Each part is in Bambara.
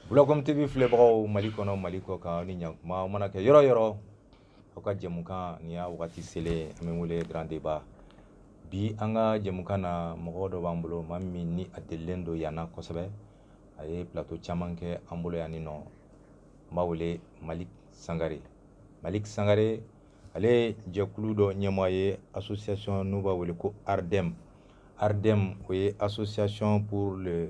Bulakom TV filɛbagaw Mali kɔnɔ Mali kɔ kan aw ni ɲantuma aw mana kɛ yɔrɔ o yɔrɔ aw ka jɛmukan nin y'a wagati selen an bɛ min wele grand débat bi an ka jɛmukan na mɔgɔ dɔ b'an bolo maa min ni a delilen don yan na kosɛbɛ a ye plateau caman kɛ an bolo yan ni nɔ an b'a wele Malik Sangare Malik Sangare ale ye jɛkulu dɔ ɲɛmɔgɔ ye association n'u b'a wele ko ARDEM ARDEM o ye association pour le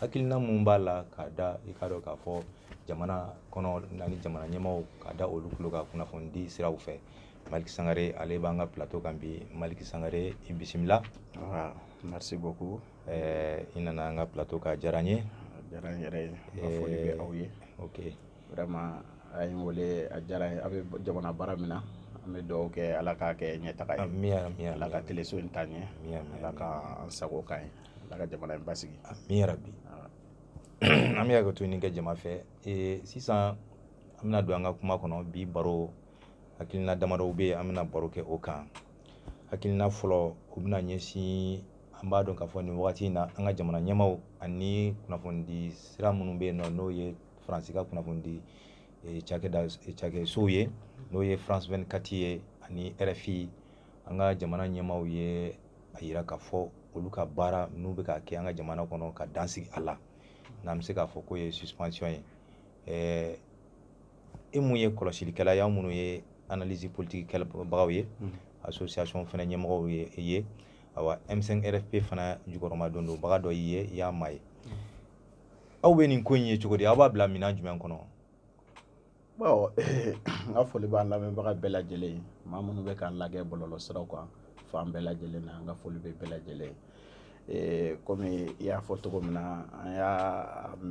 hakilina min b'a la k'a da i k'a dɔn k'a fɔ jamana kɔnɔ ani jamana ɲɛmaaw k'a da olu tulo kan kunnafonidi siraw fɛ maliki sangare ale b'an ka plateau kan bi maliki sangare i bisimila ah, merci beaucoup eh, i nana an ka plateau kan a diyara n ye diyara n yɛrɛ ye n ka foli bɛ aw ye ok vraiment a ye n wele a diyara n ye a bɛ jamana baara min na an bɛ dugawu kɛ ala k'a kɛ ɲɛtaga ye ala ka teleso in taa ɲɛ ala ka an sago ka ɲi ala ka jamana in basigi amiina yarabi an bɛ hakɛto ɲini kɛ jama fɛ sisan an bɛna don an ka kuma kɔnɔ bi baro hakilina damadɔw bɛ yen an bɛna baro kɛ o kan hakilina fɔlɔ o bɛna ɲɛsin an b'a dɔn k'a fɔ nin wagati in na an ka jamana ɲɛmaaw ani kunnafonidi sira minnu bɛ yen nɔ n'o ye faransi ka kunnafonidi eh, cakɛda eh, cakɛsow ye n'o ye france 24 ye ani rfi an ka jamana ɲɛmaaw ye a yira k'a fɔ olu ka baara n'u bɛ k'a kɛ an ka jamana kɔnɔ ka dansigi a la n'an bɛ se k'a fɔ k'o ye suspension ye ɛɛ e min ye kɔlɔsilikɛla ye aw minnu ye analyse politique kɛbagaw ye mm. association fana ɲɛmɔgɔw ye i ye awa M5 RFP fana jukɔrɔmadondonbaga dɔ y'i ye i y'a maa ye mm. aw bɛ nin ko in ye cogo di aw b'a bila minan jumɛn kɔnɔ Bon n ka foli b'an lamɛnbaga bɛɛ lajɛlen ye maa minnu bɛ k'an lajɛ bɔlɔlɔ siraw kan fan bɛɛ lajɛlen na an ka foli bɛ bɛɛ lajɛlen ye komi i y'a fɔ cogo min na an y'a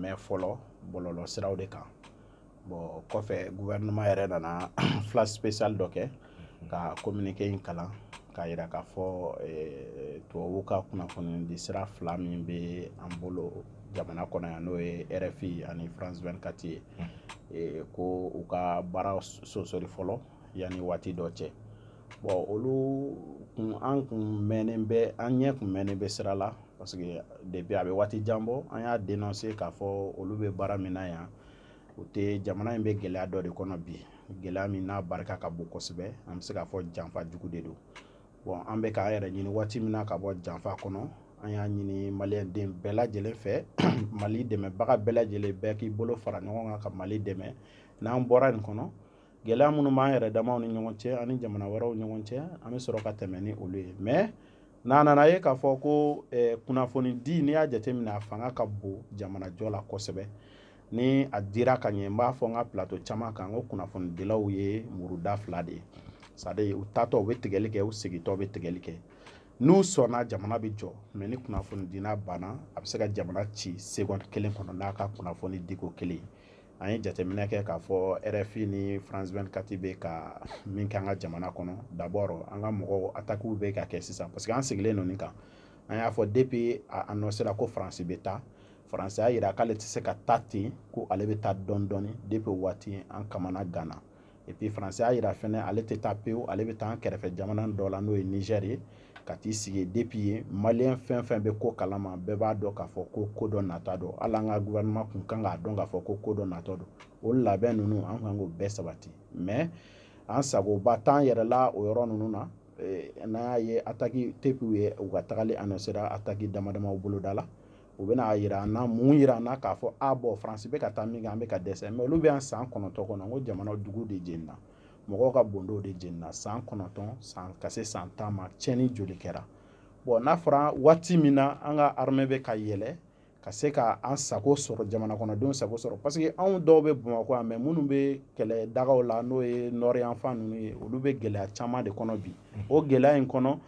mɛn fɔlɔ bɔlɔlɔ siraw de kan bon kɔfɛ gouvernement yɛrɛ nana flash spécial dɔ kɛ ka kominike in kalan k'a yira k'a fɔ eh, tubabu ka kunnafoni di sira fila min bɛ an bolo jamana kɔnɔ yan n'o ye rfi ani france 24 ye hmm. eh, ko u ka baara sonsori fɔlɔ yanni waati dɔ cɛ bɔn olu kun an kun mɛnnen bɛ an ɲɛ kun mɛnnen bɛ sira la parce que depuis a bɛ waati jan bɔ an y'a denonse k'a fɔ olu bɛ baara min na yan o tɛ jamana in bɛ gɛlɛya dɔ de kɔnɔ bi gɛlɛya min n'a barika ka bon kosɛbɛ an bɛ se k'a fɔ janfa jugu de don bɔn an bɛ k'an yɛrɛ ɲini waati min na ka bɔ janfa kɔnɔ an y'a ɲini maliyɛnden bɛɛ lajɛlen fɛ mali dɛmɛbaga bɛɛ lajɛlen bɛɛ k'i bolo fara ɲɔgɔn kan ka mali dɛmɛ n'an bɔra nin kɔnɔ gɛlɛya minnu b'an yɛrɛ damaw ni ɲɔgɔn cɛ ani jamana wɛrɛw ɲɔgɔn cɛ an bɛ sɔrɔ ka tɛmɛ ni olu ye mɛ n'a nana ye k'a fɔ ko eh, kunnafoni di n'i y'a jateminɛ a fanga ka bon jamanajɔ la kosɛbɛ ni a dira ka ɲɛ n b'a fɔ n ka plato caman kan n ko kunnafonidilaw ye muruda fila de ye sadi u taatɔ u bɛ tigɛli kɛ u segintɔ bɛ tigɛli kɛ n'u sɔnna jamana bɛ jɔ mɛ ni kunnafonidila banna a bɛ se ka jamana ci segɔni kelen kɔnɔ n'a ka kunnafoni diko kelen an ye jateminɛ kɛ k'a fɔ rfi ni france 24 bɛ ka min kɛ an ka jamana kɔnɔ d'abord an ka mɔgɔw atakiw bɛ ka kɛ sisan parce que an sigilen don nin kan an y'a fɔ depuis a annoncera ko france bɛ taa faransi y'a yira k'ale tɛ se ka taa ten ko ale bɛ taa dɔɔni dɔɔni depi o waati an kamana ganna epi faransi y'a yira fɛnɛ ale tɛ taa pewu ale bɛ taa an kɛrɛfɛ jamana dɔ la n'o ye nizɛri ye ka t'i sigi depi yen maliyɛn fɛn fɛn bɛ ko kalama bɛɛ b'a dɔn k'a fɔ ko ko dɔ natɔ don hali an ka gouvernement kun kan k'a dɔn k'a fɔ ko ko dɔ natɔ don o labɛn ninnu an kan k'o bɛɛ sabati mais an sagoba t'an yɛrɛ la o yɔrɔ ninnu na n'an y'a ye ataki depi u ye u ka tagali anɔnsera ataki dama damaw bolodala u bɛna yira an na mun yira an na k'a fɔ a bɔ faransi bɛ ka taa min kɛ an bɛ ka dɛsɛ mɛ olu bɛ yan san kɔnɔntɔn kɔnɔ n ko jamana dugu de jenina mɔgɔw ka bon dɔw de jenina san kɔnɔntɔn san ka se san tan ma tiɲɛni joli kɛra bɔn n'a fɔra waati min na an ka armɛ bɛ ka yɛlɛ ka se ka an sago sɔrɔ jamana kɔnɔdenw sago sɔrɔ parce que anw dɔw bɛ bamakɔ yan mɛ minnu bɛ kɛlɛ dagaw la n'o ye nɔrɔ yanfan ninnu ye olu bɛ gɛlɛya caman de kɔnɔ bi o gɛlɛya in kɔnɔ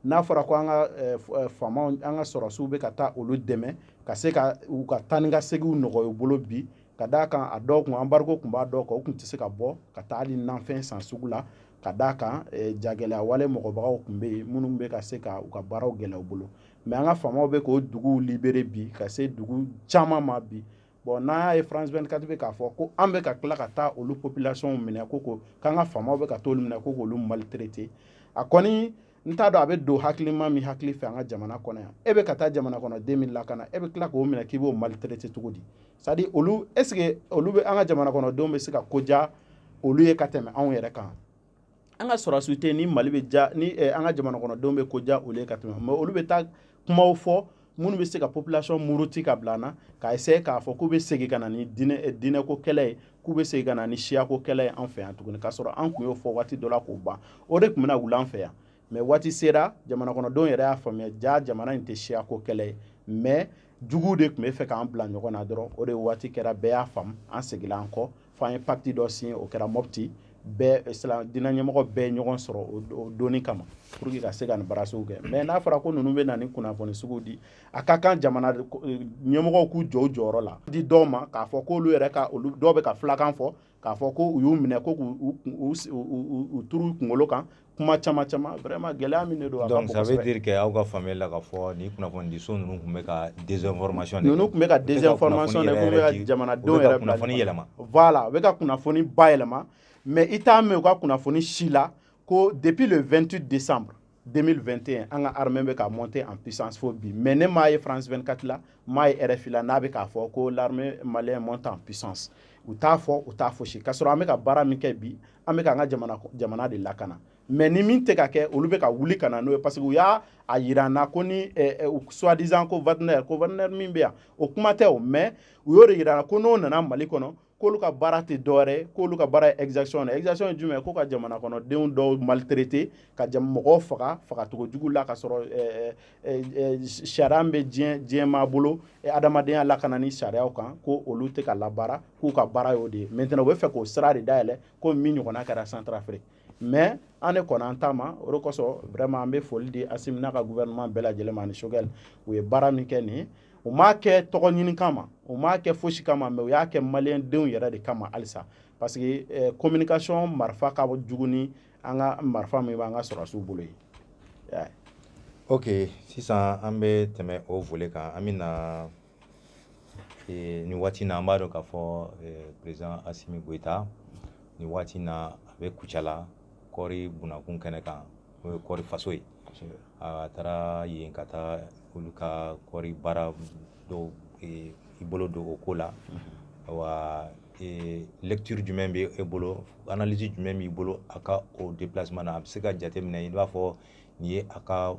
n'a fɔra ko an ka eh, eh, faamaw an ka sɔrɔdasiw bɛ ka taa olu dɛmɛ ka se ka u ka taa ni ka seginw nɔgɔya u bolo bi ka d'a kan a dɔw kun anbariko tun b'a dɔw kan u tun tɛ se ka bɔ ka taa hali nanfɛn san sugu la ka d'a kan eh, jagɛlɛyawale mɔgɔbagaw tun bɛ yen minnu bɛ ka se ka u ka baaraw gɛlɛya u bolo mɛ an ka faamaw bɛ k'o duguw libere bi ka se dugu caman ma bi bɔn n'an y'a ye france 24 bɛ k'a fɔ ko an bɛ ka tila ka taa olu populationw minɛ ko ko k'an ka faamaw bɛ ka t'olu minɛ ko k'olu maltraité a kɔni n t'a dɔn a bɛ don hakilima min hakili fɛ an ka jamana kɔnɔ yan e bɛ ka taa jamana kɔnɔden min lakana e bɛ tila k'o minɛ k'i b'o maltraité cogo di c'est à dire olu est ce que olu bɛ an ka jamana kɔnɔdenw bɛ se ka ko diya olu ye ka tɛmɛ anw yɛrɛ kan an ka sɔrɔdasiw tɛ ni mali bɛ ja ni eh, an ka jamana kɔnɔdenw bɛ ko ja olu ye ka tɛmɛ mɛ olu bɛ taa kumaw fɔ minnu bɛ se ka population muruti ka bila an na ka essayer k'a fɔ k'u bɛ segin ka na ni diinɛ eh, diinɛko kɛlɛ ye k'u bɛ segin ka na ni siyako kɛlɛ ye an fɛ yan tuguni k'a sɔrɔ an tun y'o fɔ waati dɔ la k'o ban o de tun bɛna wuli an fɛ yan mɛ waati sera jamana kɔnɔdenw yɛrɛ y'a faamuya jaa jamana in tɛ siyako kɛlɛ ye mɛ juguw de tun b'a fɛ k'an bila ɲɔgɔn na dɔrɔn o de waati kɛra bɛɛ y'a faamu an seginna an kɔ fo an ye pacte dɔ signer o kɛra mɔpti bɛɛ silamɛ diinɛ ɲɛmɔgɔ bɛɛ ɲɔgɔn sɔrɔ o don in kama pour que ka se ka nin baara suguw kɛ mɛ n'a fɔra ko ninnu bɛna nin kunnafoni suguw di a ka kan jamana ɲɛmɔgɔw k'u jɔ u jɔyɔrɔ la di dɔw ma k'a fɔ k'olu yɛrɛ ka olu dɔw bɛ ka fulakan fɔ k'a fɔ ko u y'u minɛ ko k'u turu kunkolo kan kuma caman caman vraiment gɛlɛya min de don a ka bon kosɛbɛ, donc ça veut dire que aw ka faamuyali la k'a fɔ nin kunnafonidiso ninnu tun bɛ ka désinformation de ninnu tun bɛ ka désinformation de tun bɛ ka jamanadenw yɛrɛ bila kunnafoni yɛlɛma voilà u bɛ ka kunnafoni bayɛlɛma mais i t'a mɛn u ka kunnafoni si la ko depuis le 28 décembre 2021 an ka armée bɛ ka monter en puissance fo bi mais ne m'a ye France 24 la m'a ye RFI la n'a bɛ k'a fɔ ko l'armée malienne monte en puissance u t'a fɔ u t'a fosi k'a sɔrɔ an bɛ ka baara min kɛ bi an bɛ k'an ka jamana jamana de lakana mɛ ni min tɛ ka kɛ olu bɛ ka wuli ka na n'o ye parce que u y'a yira an na ko ni soi-disant ko Wagner ko Wagner min bɛ yan o kuma tɛ o mɛ u y'o de yira an na ko n'o nana Mali kɔnɔ k'olu ka baara tɛ dɔwɛrɛ k'olu ka baara ye exaction ye exaction jumɛn ko ka jamana kɔnɔdenw dɔw maltraiter ka mɔgɔw faga fagacogo jugu la k'a sɔrɔ Eh, eh, sariya min bɛ diɲɛ diɲɛ maa bolo eh, adamadenya lakanani sariyaw kan ko olu tɛ k'a labaara k'u ka baara y'o de ye maintenant u b'a fɛ k'o sira de dayɛlɛ ko min ɲɔgɔnna kɛra Centrafrique mɛ an de kɔnna an ta ma o de kosɔn vraiment an bɛ foli di asimi n'a ka gouvernement bɛɛ lajɛlen ma ani sogɛl u ye baara min kɛ nin ye u m'a kɛ tɔgɔ ɲini kama u m'a kɛ fosi kama mɛ u y'a kɛ maliyɛndenw yɛrɛ de kama halisa parce que eh, communication marifa ka jugu ni an ka marifa min b'an ka sɔrɔdasiw bolo ye ok sisan an bɛ tɛmɛ o volet kan an bɛna eh, nin waati na an b'a dɔn k'a fɔ eh, président asimi goyita nin waati na a bɛ kucala kɔɔri bunakun kɛnɛ kan n'o ye kɔɔri faso ye a taara yen ka taa olu ka kɔɔri baara dɔw eh, i bolo don o ko la mhm. wa ee lecture jumɛn bɛ e bolo analyse jumɛn b'i bolo a ka o déplacement na a bɛ se k'a jate minɛ i b'a fɔ nin ye a ka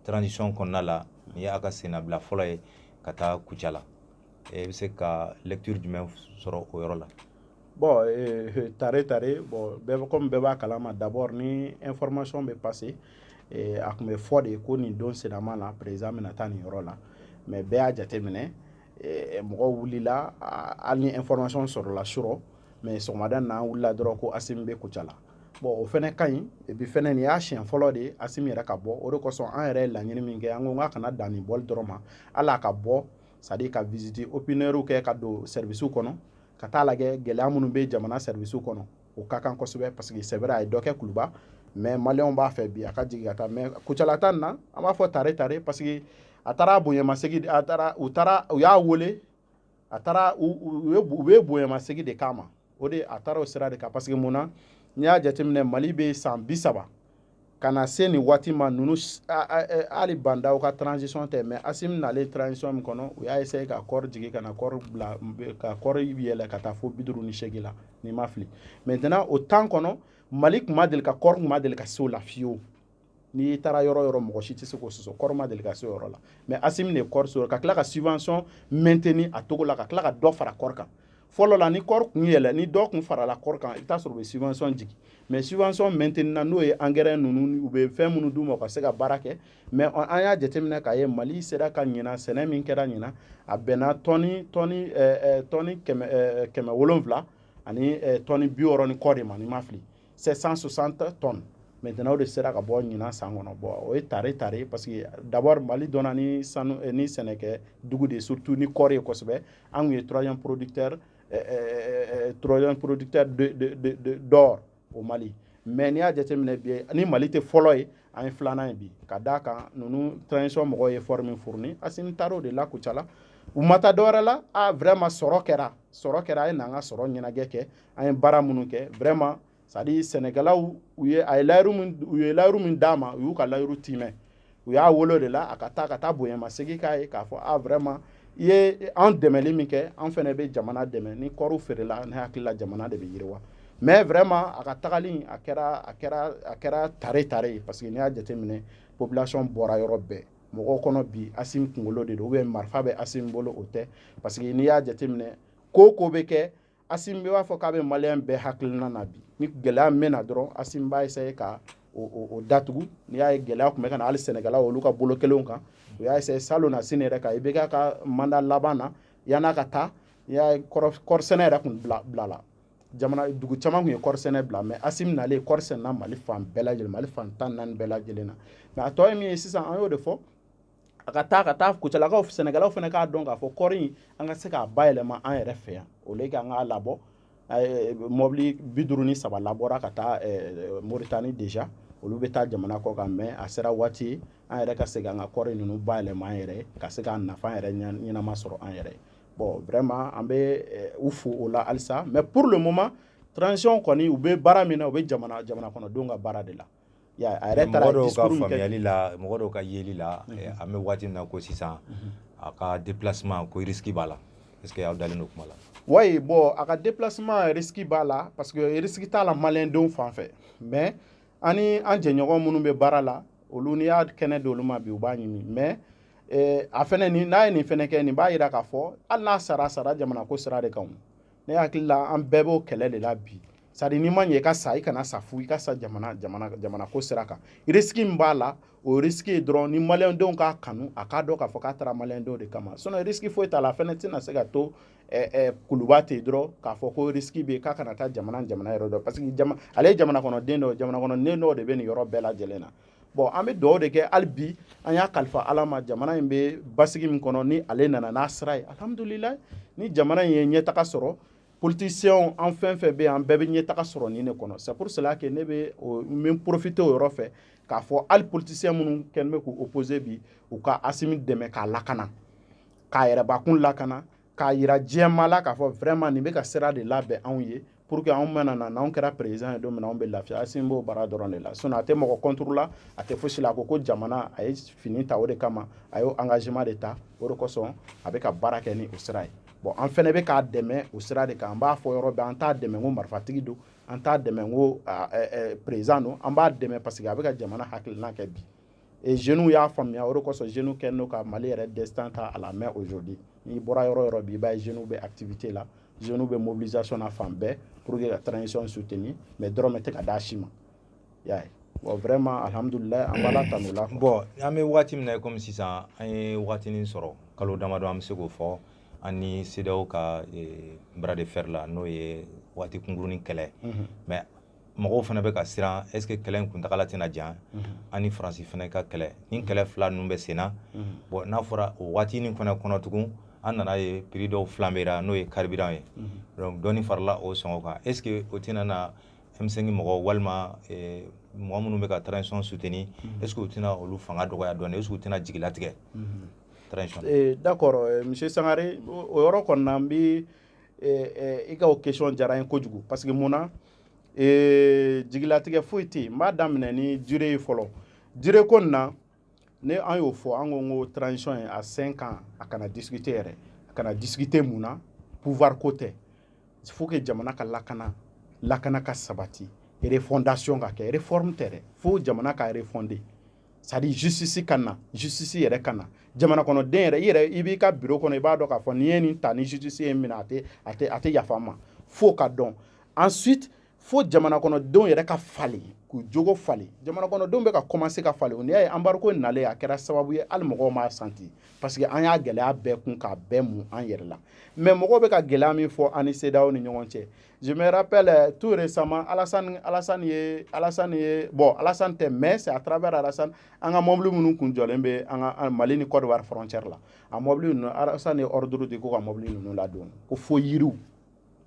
transition kɔnɔna la nin ye a ka sennabila fɔlɔ ye ka taa kucala e bɛ se ka lecture jumɛn sɔrɔ o yɔrɔ la bɔn eh, tare tare bɔn bɛɛ kɔmi bɛɛ b'a kalama d'abord ni information bɛ passer eh, a tun bɛ fɔ de ko nin don senama na président bɛna taa nin yɔrɔ la mais bɛɛ y'a jateminɛ eh, mɔgɔw wulila hali ni information sɔrɔla surɔ mais sɔgɔmada na an wulila dɔrɔn ko asimi bɛ kucala bon o fɛnɛ ka ɲi epi fɛnɛ nin y'a siɲɛ fɔlɔ de ye asimi yɛrɛ ka bɔ o de kosɔn an yɛrɛ ye laɲini min kɛ an ko k'a kana dan nin bɔli dɔrɔn ma hali a ka bɔ c'est à dire ka visite opinɛriw kɛ ka don sɛrivisiw kɔnɔ ka t'a lajɛ gɛlɛya minnu bɛ jamana sɛrivisiw kɔnɔ o ka kan kosɛbɛ parce que c'est vrai a ye dɔ kɛ kuluba mais maliyɛnw b'a fɛ bi a ka jigin ka taa mais kucala ta nin na an b'a fɔ tare tare parce que a taara bonyamasegi a taara u taara u y'a wele a taara u bɛ bonyamasegi de k'a ma o de a taara o sira de kan parce que mun na n'i y'a jateminɛ mali bɛ san bi saba ka na se nin waati ma ninnu hali ba ndaw ka transition tɛ mais asim nalen transition min kɔnɔ u y'a essaye ka kɔri jigin ka na kɔri bila ka kɔri yɛlɛ ka taa fo bi duuru ni seegin la n'i ma fili maintenant o tan kɔnɔ mali tun ma deli ka kɔri tun ma deli ka se o la fiyewu n'i taara yɔrɔ yɔrɔ mɔgɔ si tɛ se k'o sɔsɔ kɔri ma deli ka se o yɔrɔ la mais asim de ye kɔri sɔrɔ ka tila ka subvention maintenir a cogo la ka tila ka dɔ fara kɔri kan fɔlɔ la ni kɔɔri kun yɛlɛ ni dɔ kun farala kɔɔri kan i bɛ t'a sɔrɔ u bɛ subvention jigin mais subvention maintenina n'o ye angɛrɛ ninnu u bɛ fɛn minnu d'u ma u ka se ka baara kɛ mais an y'a jateminɛ k'a ye mali sera ka ɲina sɛnɛ min kɛra ɲina a bɛnna tɔni tɔni tɔni kɛmɛ kɛmɛ wolonwula ani tɔni bi wɔɔrɔ ni kɔ de ma n'i ma fili 760 tonnes maintenant o de sera ka bɔ ɲinan san kɔnɔ bon o ye tare tare parce que d'abord mali dɔnna ni sanu eh, ni sɛnɛkɛ dugu de surtout ni kɔɔri ye kosɛbɛ an kun ye troisième producteur eh, eh, troisième producteur de de de de d'or au mali mais n'i y'a jateminɛ bi ni mali tɛ fɔlɔ ye an ye filanan ye bi ka d'a kan ninnu transition mɔgɔw ye effort min fourni asim taara o de la kucala u ma taa dɔwɛrɛ la a vraiment sɔrɔ kɛra sɔrɔ kɛra a ye n'an ka sɔrɔ ɲɛnajɛ kɛ an ye baara minnu kɛ vraiment c'est à dire sɛnɛkɛlaw u ye a ye layiru min u ye layiru min d'a ma u y'u ka layiru timɛ u y'a wele o de la a ka taa ka taa bonyamasegin k'a ye k'a fɔ a vraiment i ye an dɛmɛli min kɛ an fɛnɛ bɛ jamana dɛmɛ ni kɔɔriw feerela ne hakili la jamana de bɛ yiriwa mais vraiment a ka tagali a kɛra a kɛra a kɛra tare tare ye parce que n'i y'a jateminɛ population bɔra yɔrɔ bɛɛ mɔgɔw kɔnɔ bi asim kunkolo de don ou bien marifa bɛ asim bolo o tɛ parce que n'i y'a jateminɛ ko ko bɛ kɛ asim b'a fɔ k'a bɛ maliyɛn bɛɛ hakilina na bi ni gɛlɛya mɛnna dɔrɔn asim b'a essaye ka o, o, o datugu n'i y'a ye gɛlɛya tun bɛ ka na hali sɛnɛkɛlaw olu ka bolo kelenw kan u y'a essaye salon nasini yɛrɛ kan ibk ka mandat laban na yann'a ka taa i y'a ye kɔrisɛnɛ yɛrɛ tun bila bilala jamana dugu caman tun ye kɔrisɛnɛ bila mais asim nalen kɔri sɛnɛna mali fan bɛɛ lajɛlen mali fan tan naani bɛɛ lajɛlen na mais a tɔ ye min ye sisan an y'o de fɔ a ka taa ka taa kucalakaw sɛnɛkɛlaw fana k'a dɔn k'a fɔ kɔri in an ka se k'a bayɛlɛma an yɛrɛ fɛ yan au lieu k'an k'a labɔ mɔbili bi duuru ni saba labɔra ka taa moritani déjà olu bɛ taa jamana kɔkan mais a sera waati ye an yɛrɛ ka segin an ka kɔri ninnu bayɛlɛma an yɛrɛ ka se k'a nafa yɛrɛ ɲɛnama sɔrɔ an yɛrɛ bɔn vraiment an bɛ u fo o la halisa mais pour le moment transition kɔni u bɛ baara min na u bɛ jamana jamana kɔnɔdenw ka baara de la Ya a yɛrɛ taara mɔgɔ dɔw ka discours min kɛ- faamuyali la mɔgɔ dɔw ka yeli la eh, an bɛ waati min na ko sisan a ka déplacement ko risque b'a la est ce que aw dalen don o kuma la wayi bɔn a ka déplacement risque b'a la parce que risque t'a la maliyɛndenw fan fɛ mais an ni an jɛɲɔgɔn minnu bɛ baara la olu n'i y'a kɛnɛ d'olu ma bi u b'a ɲimi mais eh, a fɛnɛ ni n'a ye nin fɛnɛ kɛ nin b'a yira k'a fɔ hali n'a sara a sara jamanako sira de kan o. ne hakili la an bɛɛ b'o kɛlɛ de la bi c'est-à-dire n'i ma ɲɛ i ka sa i kana sa fu i ka sa jamana jamana jamanako sira kan risiki min b'a la o risiki ye dɔrɔn ni maliyɛndenw k'a kanu a k'a dɔn k'a fɔ k'a taara maliyɛndenw de kama sinon risiki foyi t'a la a fɛnɛ tɛna se ka to eh, eh, kuluba ten dɔrɔn k'a fɔ ko risiki bɛ k'a kana taa jamana jamana yɔrɔ dɔ parce que jama ale ye jamana kɔnɔden dɔ jamanakɔnɔden dɔ de bɛ nin yɔrɔ bɛɛ lajɛlen na bɔn an bɛ duwaw de kɛ hali bi an y'a kalifa ala ma jamana in bɛ basigi min kɔnɔ ni ale nana n'a sira ye alihamudulila ni jamana in ye ɲɛtaga sɔrɔ politisiyɛnw an fɛn fɛn bɛ an bɛɛ bɛ ɲɛtaga sɔrɔ nin de kɔnɔ c'est pour cela que ne bɛ n bɛ profiter o yɔrɔ fɛ k'a fɔ hali politisiyɛn minnu kɛlen bɛ k'u opposer bi u ka asimi dɛmɛ k'a lakana k'a yɛrɛ bakun lakana k'a yira diɲɛmaa la k'a fɔ vraiment nin bɛ ka sira de labɛn anw ye pour que anw mana na n'anw kɛra président ye don min na anw bɛ lafiya Asimi b'o baara dɔrɔn de la sinon a tɛ mɔgɔ contre la a tɛ fosi la a ko ko jamana a ye fini ta o de kama a y'o engagement de ta o de kosɔn a bɛ ka baara kɛ ni o sira ye bon an fɛnɛ bɛ k'a dɛmɛ o sira de kan an b'a fɔ yɔrɔ bɛɛ an t'a dɛmɛ ko marifatigi don an t'a dɛmɛ ko président don an b'a dɛmɛ parce que a bɛ ka jamana hakilina kɛ bi jeunew y'a faamuya o de kosɔn jeunew kɛ n'o ka mali yɛrɛ destin ta à la main aujourd'hui n'i bɔra yɔrɔ yɔrɔ bi i b'a ye jeunew bɛ activité la jeunew bɛ mobilisation na fan bɛɛ pour que ka transition soutenir mais dɔrɔmɛ tɛ ka d'a si ma y'a ye wa vraiment alihamdulila an b'a tan la bɔn an bɛ waati min na kɔmi sisan an ye waati min sɔrɔ kalo damadɔ an bɛ se k'o fɔ an ni CEDEAO ka bras de fer la n'o ye waati kunkurunin kɛlɛ mais mɔgɔw fana bɛ ka siran est ce que kɛlɛ in kuntagala tɛna jan an ni faransi fana ka kɛlɛ ni kɛlɛ fila ninnu bɛ senna bɔn n'a fɔra o waati nin fana kɔnɔ tugun an nan'a ye prix dɔw flambera n'o ye carburant ye donc dɔɔni farala o sɔngɔ kan est ce que o tɛna na M5 mɔgɔ walima eh, mɔgɔ minnu bɛ ka transition soutenir est ce que u tɛna olu fanga dɔgɔya dɔɔni est ce que u tɛna jigilatigɛ transition eh, d'accord eh, monsieur sangare o yɔrɔ kɔni na n bi i ka o question diyara n ye kojugu parce que mun na jigilatigɛ foyi tɛ yen n b'a daminɛ ni durée ye fɔlɔ durée ko nin na ne an y'o fɔ an ko n ko transition ye à cinq ans a kana discuter yɛrɛ a kana discuter mun na pouvoir ko tɛ il faut que jamana ka lakana lakana ka sabati refondation ka kɛ réforme tɛ dɛ fo jamana ka refonder c'est à dire justice ka na justice yɛrɛ ka na jamana kɔnɔ den yɛrɛ i yɛrɛ i b'i ka bureau kɔnɔ i b'a dɔn k'a fɔ n'i ye nin ta ni justice y'i minɛ a tɛ a tɛ a tɛ yafa ma fo ka dɔn ensuite fo jamana kɔnɔdenw yɛrɛ ka falen k'u jogo falen jamana kɔnɔdenw bɛ ka commencer ka falen o n'i y'a ye embargo nalen a kɛra sababu ye hali mɔgɔw m'a sentir parce que an y'a gɛlɛya bɛɛ kun k'a bɛɛ mun an yɛrɛ la mais mɔgɔw bɛ ka gɛlɛya min fɔ an ni CEDEAO ni ɲɔgɔn cɛ Zmerap tuure sama alas alas ye alas ye bɔn ala tɛ mɛ se a taara alas an ka mɔbili minnu tun jɔlen bɛ an mali ni kɔ wari fcɛ la a mɔbili ninnu alas ni duuru de ko ka mɔbili ninnu ladon ko fo yiriw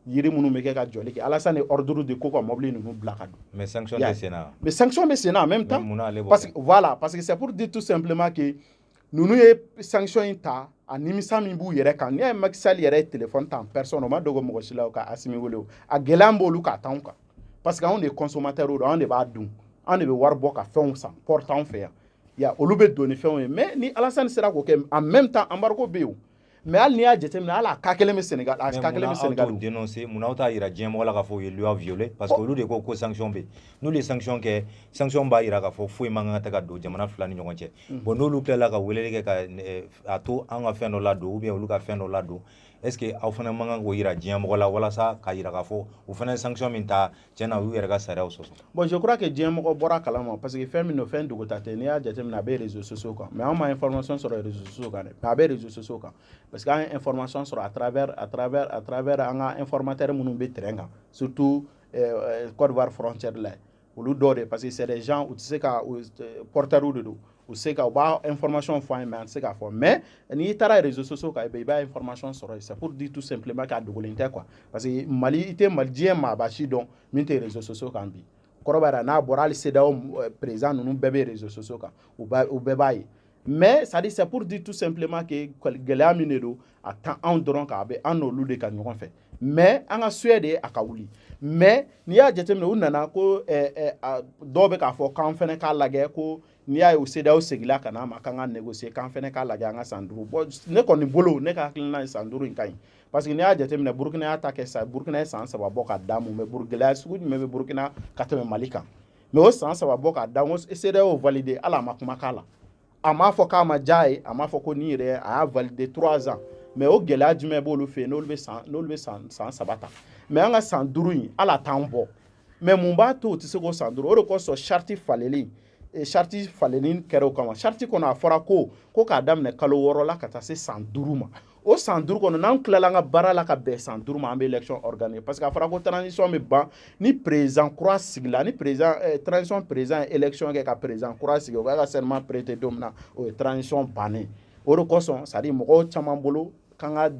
yiri minnu bɛ kɛ ka jɔli kɛ alas ni duuru de ko ka mɔbili ninnu bila ka mɛ san bɛ sen mɛ san bɛ sen la parce que seuru de tu sen bilenma kɛ ninnu ye sanction in ta a nimisa min b'u yɛrɛ kan n'i y'a ye Macky Sall yɛrɛ ye téléphone ta en personne o ma dogo mɔgɔ si la o ka Assimi wele o a gɛlɛya b'olu kan a t'anw kan parce que anw de consommateur don anw de b'a dun anw de bɛ wari bɔ ka fɛnw san port t'anw fɛ yan ya olu bɛ don ni fɛnw ye mais ni Alassane sera k'o kɛ en même temps embargo bɛ yen mais hali n'i y'a jateminɛ hali a ka kelen bɛ Senegal a ka kelen bɛ Senegal mun dénoncer mun na aw t'a jira diɲɛmɔgɔ la k'a fɔ u ye loi violer parce que olu de ko ko sanction bɛ yen n'olu ye sanction kɛ sanction b'a jira k'a fɔ foyi man kan ka ta ka don jamana fila ni ɲɔgɔn cɛ mm. bon n'olu tilala ka weleli kɛ ka eh, a to an ka fɛn dɔ ladon ou bien olu ka fɛn dɔ ladon est ce que aw fana man kan k'o jira diɲɛmɔgɔ la walasa k'a jira k'a fɔ u fana ye sanction min ta tiɲɛ na u yɛrɛ ka sariyaw sɔsɔ bon je crois que diɲɛ mɔgɔ bɔra a kalama parce que fɛn min don fɛn dogota tɛ n'i y'a jateminɛ a bɛ réseau sociaux kan mais an ma information sɔrɔ réseau sociaux kan dɛ mais a bɛ réseau sociaux kan parce que an ye information sɔrɔ à travers à travers à travers an ka informateur minnu bɛ terrain kan surtout eh, eh, Côte d'Ivoire frontière la olu dɔw de parce que c'est des gens u tɛ se ka porteurs de don u se ka u b'a information fɔ an ye mais an tɛ se k'a fɔ mais n'i taara réseaux sociaux kan i b'a information sɔrɔ yen c'est pour dire tout simplement k'a dogolen tɛ quoi parce que Mali i tɛ Mali diɲɛ maaba si dɔn min tɛ réseaux sociaux kan bi kɔrɔ b'a yira n'a bɔra hali CEDEAO euh, président ninnu bɛɛ bɛ réseaux sociaux kan u b'a u bɛɛ b'a ye mais c'est à dire c'est pour dire tout simplement que gɛlɛya min de don a t'anw dɔrɔn kan a bɛ an n'olu de kan ɲɔgɔn fɛ mais an ka souhait de ye a ka wuli mais n'i y'a jateminɛ u nana ko eh, eh, dɔw bɛ k'a fɔ k'an fɛnɛ k'a lajɛ ko n'i y'a ye CEDEAO segila ka na an ma k'an ka négocier k'an fɛnɛ k'a lajɛ an ka san duuru bon ne kɔni bolo ne ka hakilina ye san duuru in ka ɲi parce que n'i y'a jateminɛ Burkina y'a ta kɛ sa Burkina ye san saba bɔ ka da mun bɛ buru gɛlɛya sugu jumɛn bɛ Burkina ka tɛmɛ Mali kan mais o san saba bɔ ka da n ko CEDEAO valider hali a ma kuma k'a la a m'a fɔ k'a ma diya ye a m'a fɔ ko ni yɛrɛ a y'a valider trois ans mais o gɛlɛya jumɛn b'olu fɛ yen n'olu bɛ san n'olu bɛ san san saba ta mais an ka san duuru in ala t'an bɔ mais mun b'a to u tɛ se k'o san duuru o de kosɔn sariti falenlen eh, sariti falenni kɛra o kama sariti kɔnɔ a fɔra ko ko k'a daminɛ kalo wɔɔrɔ la ka taa se san duuru ma o san duuru kɔnɔ n'an tilala an ka baara la ka bɛn san duuru ma an bɛ élection organiser parce que a fɔra ko transition bɛ ban ni président kura sigila ni président eh, transition président ye élection kɛ ka président kura sigi o b'a ka serment prêter don min na o ye transition bannen o de kosɔn c'est-à-dire mɔgɔw caman bolo k'an ka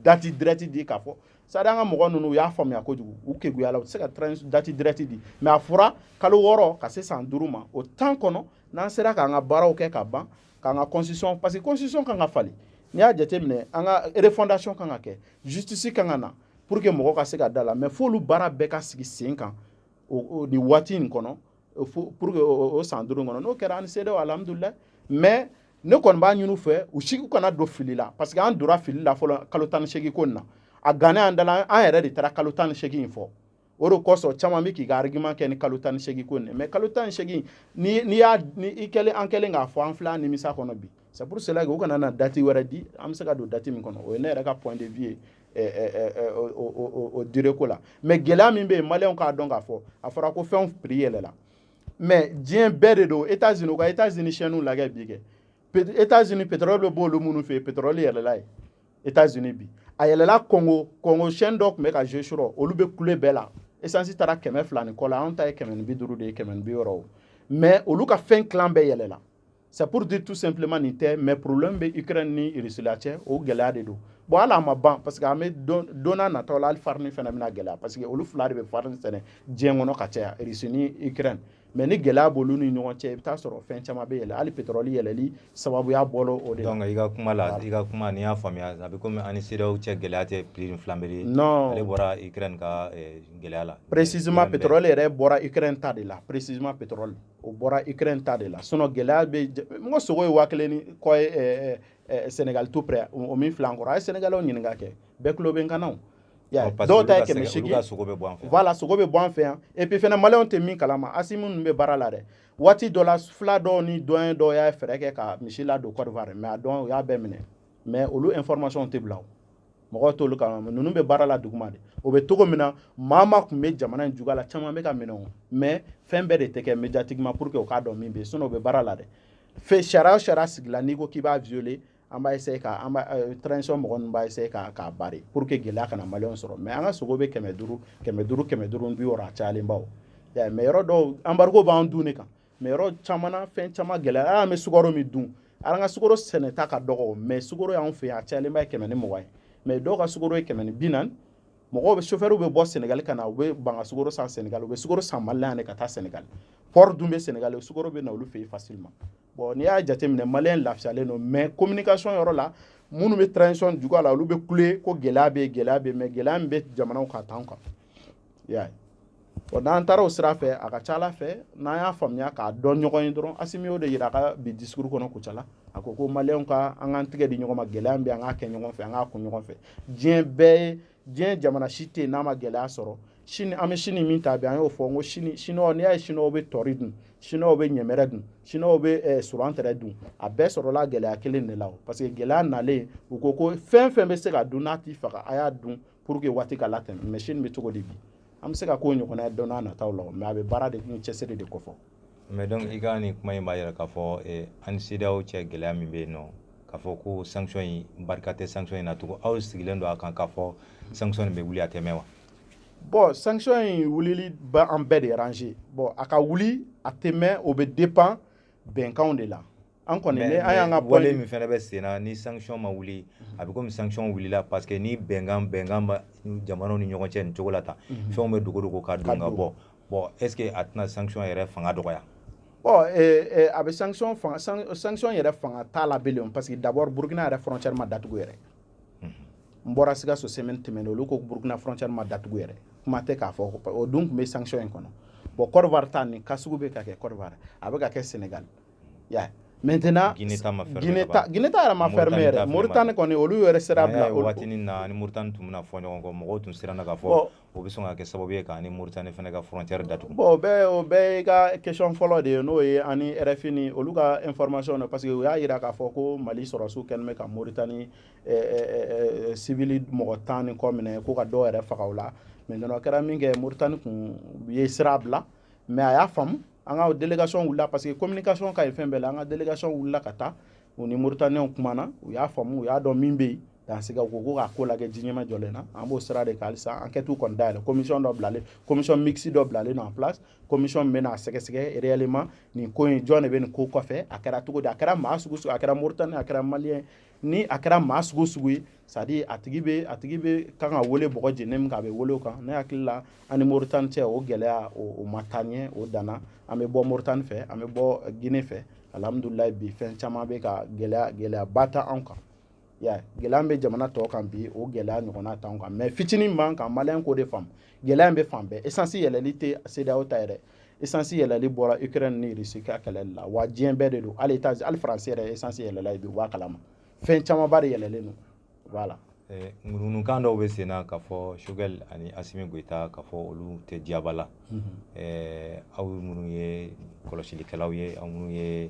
dati direct di k'a fɔ c'est-à-dire an ka mɔgɔ ninnu u y'a faamuya kojugu u keguyala u tɛ se ka dati direct di mais a fɔra kalo wɔɔrɔ ka se san duuru ma o temps kɔnɔ n'an sera k'an ka baaraw kɛ ka ban k'an ka constitution parce que constitution kan ka falen n'i y'a jateminɛ an ka refondation kan ka kɛ justice kan ka na pour que mɔgɔ ka se ka da la mais f'olu baara bɛɛ ka sigi sen kan o nin waati in kɔnɔ pour que o san duuru kɔnɔ n'o kɛra an ni CEDEAO alhamdulilayi mais ne kɔni b'a ɲini u fɛ u si u kana don fili la parce que an donna fili la fɔlɔ kalo tan ni seegin ko in na a gannen an dala an yɛrɛ de taara kalo tan ni seegin in fɔ o de kosɔn caman bɛ k'i ka argument kɛ ni kalo tan ni seegin ko nin mais kalo tan ni seegin ni n'i y'a ni i kɛlen an kɛlen k'a fɔ an filɛ an nimisa kɔnɔ bi c'est pour cela que u kana na dati wɛrɛ di an bɛ se ka don dati min kɔnɔ o ye ne yɛrɛ ka point de vue ye eh, eh, eh, o o o o durée ko la mais gɛlɛya min bɛ yen maliyɛnw k'a dɔn k'a fɔ a fɔra ko fɛnw prix yɛlɛla mais diɲɛ bɛɛ de don États-Unis u ka États-Unis chaîne lajɛ bi kɛ États-Unis pétrole bɛ b'olu minnu fɛ yen pétrole yɛlɛla yen États-Unis bi a yɛlɛla Congo Congo chaîne dɔ tun bɛ ka jouer surɔ olu bɛ kule bɛɛ la esansi taara kɛmɛ fila ni kɔ la anw ta ye kɛmɛ ni bi duuru de ye kɛmɛ ni bi wɔɔrɔ mais olu ka fɛn tilan bɛɛ yɛlɛla c'est pour dire tout simplement nin tɛ mais problème bɛ Ukraine ni Russie la cɛ o gɛlɛya de don bon hali a ma ban parce que an b'a dɔn don nataw la hali farini fana bɛna gɛlɛya parce que olu fila de bɛ farini sɛnɛ diɲɛ kɔnɔ ka caya Russie ni Ukraine mais ni gɛlɛya b'olu ni ɲɔgɔn cɛ i bɛ taa sɔrɔ fɛn caman bɛ yɛlɛ hali pɛtɔli yɛlɛli sababuya bɔ o de i ka kuma la i ka kuma ni n y'a faamuya a bɛ komi an ni CEDEAO cɛ gɛlɛya tɛ prix voilà prix ale bɔra Ukraine ka gɛlɛya la précisément pɛtɔli yɛrɛ bɔra Ukraine ta de la précisément pɛtɔli o bɔra Ukraine ta de la sinon gɛlɛya bɛ mɔgɔ sogo ye waa kelen ni kɔ sɛnɛgali tout près o min filɛ an kɔrɔ a ye sɛnɛgalɛw ɲininka kɛ bɛɛ tulo bɛ n kan na dɔw ta ye kɛmɛ seegin ye sogo bɛ bɔ an fɛ voilà sogo bɛ bɔ an fɛ yan et puis fana maliyɛnw tɛ min kalama Assimi ninnu bɛ baara la dɛ waati dɔ la fila dɔw ni dɔn dɔw y'a fɛɛrɛ kɛ ka misi ladon Côte d'Ivoire mais a don u y'a bɛɛ minɛ mais olu information tɛ bila o mɔgɔw t'olu kalama ninnu bɛ baara la duguma de o bɛ cogo min na maa min tun bɛ jamana in juguya la caman bɛ ka minɛ o mais fɛn bɛɛ de tɛ kɛ médiatiquement pour que u k'a dɔn min bɛ yen sinon u bɛ baara la dɛ fɛ sariya o sariya sigila n'i ko k'i b'a violer An b'a essayer ka an b'a ɛ transition mɔgɔ ninnu b'a essayer ka k'a barrer pour que gɛlɛya kana malien sɔrɔ mais an ka sogo bɛ 500 500 560 a cayalenba o i y'a ye mais yɔrɔ dɔw embargo b'an dun de kan mais yɔrɔ caman na fɛn caman gɛlɛya hali an bɛ sukaro min dun an ka sukaro sɛnɛta ka dɔgɔ mais sukaro y'anw fɛ yan a cayalenba ye 120 ye mais dɔw ka sukaro ye 140 mɔgɔw bɛ chauffeur bɛ bɔ Sénégal ka na u bɛ ban ka sukaro san Sénégal u bɛ sukaro san Mali la yan de ka taa Sénégal port dun bɛ Sénégal sukaro bɛ na olu fɛ yen facilement bɔn n'i y'a jateminɛ maliyɛn lafiyalen don mɛ kominikasɔn yɔrɔ la minnu bɛ transition juguya la olu bɛ kule ko gɛlɛya bɛ gɛlɛya bɛ mɛ gɛlɛya min bɛ jamanaw ka tan kan y'a bɔn n'an taara o sira fɛ a ka ca ala fɛ n'an y'a faamuya k'a dɔn ɲɔgɔn ye dɔrɔn asimi y'o de yira a ka bi discours kɔnɔ ku cala a ko ko maliyɛnw ka an k'an tigɛ di ɲɔgɔn ma gɛlɛya min bɛ an k'a kɛ ɲɔgɔn fɛ an k'a kun ɲɔgɔn fɛ diɲɛ bɛɛ ye diɲɛ jamana si tɛ yen n'a ma gɛlɛya sɔrɔ sini an bɛ sini min ta bi an y'o fɔ n ko sini siniw n'i y'a ye siniw bɛ tɔri dun siniw bɛ ɲɛmɛrɛ dun siniw bɛ eh, surantɛrɛ dun a bɛɛ sɔrɔla gɛlɛya kelen de la o parce que gɛlɛya nalen u ko ko fɛn fɛn bɛ se ka dun n'a t'i faga a y'a dun pour que waati ka latɛmɛ mɛ sini bɛ cogo di bi an bɛ se ka k'o ɲɔgɔnna ye don nataw la mɛ a bɛ baara de kun cɛsiri de kofɔ mɛ dɔnku i ka nin kuma in b'a yira k'a fɔ eh, an ni CEDEAO cɛ gɛlɛya min bɛ yen nɔ k'a fɔ ko sanction in barika tɛ sanction in na tugun aw sigilen don a kan k'a fɔ sanction in bɛ wuli a tɛ mɛn wa bɔn sanction in wulili b'an bɛɛ de arranger bɔn a ka wuli a tɛ mɛn o bɛ dépend bɛnkanw de la an kɔni an y'an ka bɔlen min fana bɛ sen na ni sancɔn ma wuli a bɛ komi sancɔn wulila parce que ni bɛnkan bɛnkan jamanaw ni ɲɔgɔn cɛ nin cogo la tan fɛnw bɛ dogo dogo ka don ka bɔ bɔn est ce que a tɛna sancɔn yɛrɛ fanga dɔgɔya ɔ a bɛ sancɔn fanga sancɔn yɛrɛ fanga t'a la bilen parce que d'abord burukina yɛrɛ frontière ma datugu yɛrɛ n bɔra sikaso semaine tɛmɛnen olu ko burukina frontière ma datugu yɛrɛ kuma tɛ k'a fɔ o dun tun bɛ sancɔn in kɔnɔ bɔn kɔdiwari ta nin ko sugu bɛ ka kɛ kɔdiwari a bɛ ka kɛ senegali ya maintenant Guinée ta ma fermer Guinée ta Guinée ta yɛrɛ ma fermer yɛrɛ Mauritanie kɔni olu yɛrɛ sira bila o waatinin na an ni Mauritanie tun bɛna fɔ ɲɔgɔn kɔ mɔgɔw tun siranna ka fɔ o bɛ sɔn ka kɛ sababu ye ka ni Mauritanie fana ka frontière datugu bon o bɛɛ o bɛɛ ye i ka question fɔlɔ de ye n'o ye ani RFI ni olu ka information na parce que u y'a jira k'a fɔ ko Mali sɔrɔsiw kɛlen bɛ ka Mauritanie civil mɔgɔ tan ni kɔ minɛ ko ka dɔw yɛrɛ faga o la maintenant o kɛra min kɛ Mauritanie tun ye sira bila mɛ a y'a faamu an ka delegation wulila parce que communication ka ɲi fɛn bɛɛ la an ka delegation wulila ka taa u ni moritaniyɛnw kumana u y'a faamu u y'a dɔn min bɛ yen dan siga ko ko k'a ko lajɛ de ɲɛmajɔlen na an b'o sira de kan halisa enquêtew kɔni dayɛlɛ commission dɔ bilalen commission mixte dɔ bilalen don en place commission min bɛna a sɛgɛsɛgɛ réellement nin ko in jɔn de bɛ nin ko kɔfɛ a kɛra cogo di a kɛra maa sugu sugu a kɛra moritani a kɛra maliyɛn ni a kɛra maa sugu sugu ye sadi a tigi bɛ a tigi bɛ kan ka wele bɔgɔ jeni min kan a bɛ wele o kan ne hakili la an ni moritani cɛ o gɛlɛya o ma taa ɲɛ o danna an bɛ bɔ moritani fɛ an bɛ bɔ gine fɛ alihamudulilayi bi fɛn caman bɛ ka gɛlɛya gɛlɛyaba t'anw kan ya gɛlɛya bɛ jamana tɔw kan bi o gɛlɛya ɲɔgɔnna t'anw kan mɛ fitinin min b'an kan maliyɛn k'o de faamu gɛlɛya in bɛ fan bɛɛ esansi yɛlɛli tɛ sedeyawo ta yɛrɛ esansi yɛlɛli bɔra ukraine ni russie ka kɛlɛ de la wa diɲɛ bɛɛ de don hali etats hali france yɛrɛ esansi yɛlɛla yen bi u b'a kalama fɛn camanba de yɛlɛlen don voilà ŋunuŋunukan dɔw bɛ sen na k'a fɔ shogɛl ani asimi goyita k'a fɔ olu tɛ diyaba la aw minnu ye kɔlɔsilikɛlaw ye aw minnu ye